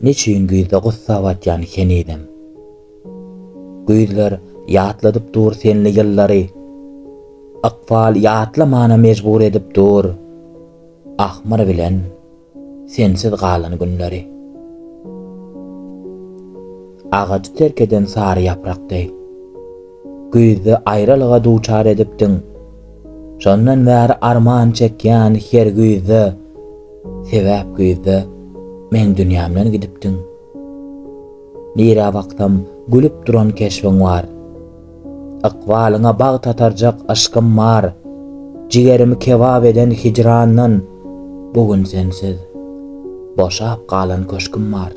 Neçüýn güýzde gussa batýan henizem. Güýzler ýatladyp dur senli ýyllary. Ykbal ýatlamana mejbur edip dur. Ahmyr bilen sensiz galan günleri. Agajy terk eden sary ýaprak deý. Güýzde aýralyga duçar edipdiň. Şondan bäri arman çekýän her güýzde, Sebäp güýzde meň dünýämden gidipdiň. Nirä baksam, gülüp duran keşbiň bar. Ykbalyňa bagt atarjak yşkym bar. Jigerimi kebap eden hijrandan, Bu gün sensiz, boşap galan köşgüm bar.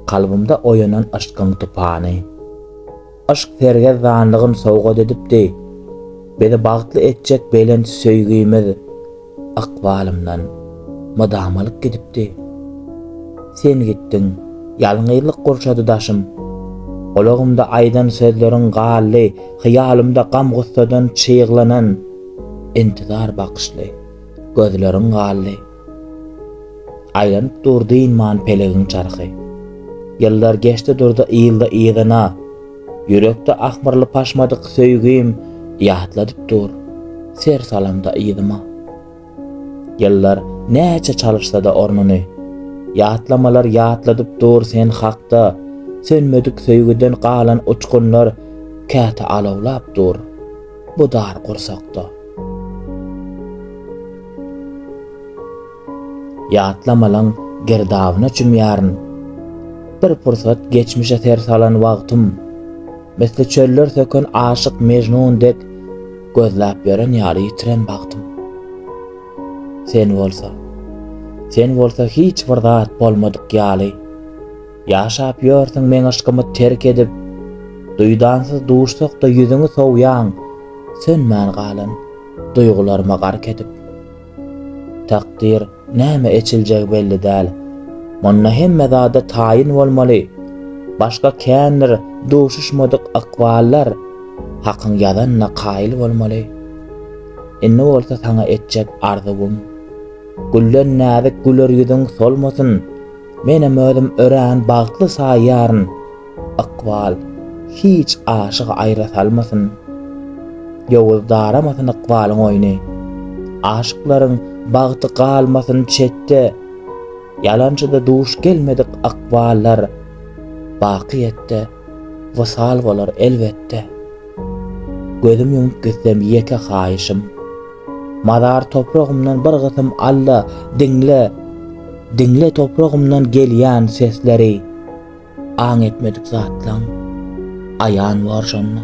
Kalbymda oýanan yşkyň tupany. Yşk sergezdanlygyn sowgat edipdi. Bizi bagtly etjek belent söýgimiz ykbalymdan mydama alyp gidipdi. Sen gitdiň, ýalňyzlyk gurşady daşym. Gulagymda aýdan sözleriň galdy, hyýalymda gam-gussadan çyglanan, intizar bakyşly gözleriň galdy. Aýlanyp dur dynman pelegiň çarhy. Ýyllar geçdi durdy ýyldy yzyna. Ýürekde ahmyrly paşmadyk söýgim ýatladyp dur, ser salamda yzyma. Ýyllar näçe çalyşsada ornuny. Ýatlamalar ýatladyp dur sen hakda, Sönmedik söýgüden galan uçgunlar käte alawlap dur. Bu dar gursakda. Ýatlamalaň girdabyna çümýärin. Bir pursat geçmişe ser salan wagtym, Misli çöller söken aşyk Mejnun dek, Gözläp ýören ýaly ýitiren bagtym. Sen bolsa, sen bolsa hiç bir zat bolmadyk ýaly. Ýaşap ýörsüň meň yşkymy terk edip, Duýdansyz duşsak-da ýüzüňi sowýaň, Sönmän galan duýgularyma gark edip. Takdyr, näme eçiljegi belli däl, Munda hemme zada taýyn bolmaly, Başga kändir duşuşmadyk ykballar, Hakyň ýazanyna kaýyl bolmaly. Indi bolsa saňa etjek arzuwym, Gülden näzik güler ýüzüň solmasyn, Menem özüm örän bagtly saýýaryn, ykbal hiç aşygy aýra salmasyn. Ýowuz daramasyn ykbalyň oýny. Aşyklaryň bagty galmasyn çetde. Ýalançyda duş gelmedik ykballar baky ýetde. wysal bolar elbetde. Gözüm ýumup gitsem ýeke haýyşym, Mazar topragymdan bir gysym alla diňle, Diňle topragymdan gelýän sesleri, Aň etmedik zatlaň aýan bor şonda.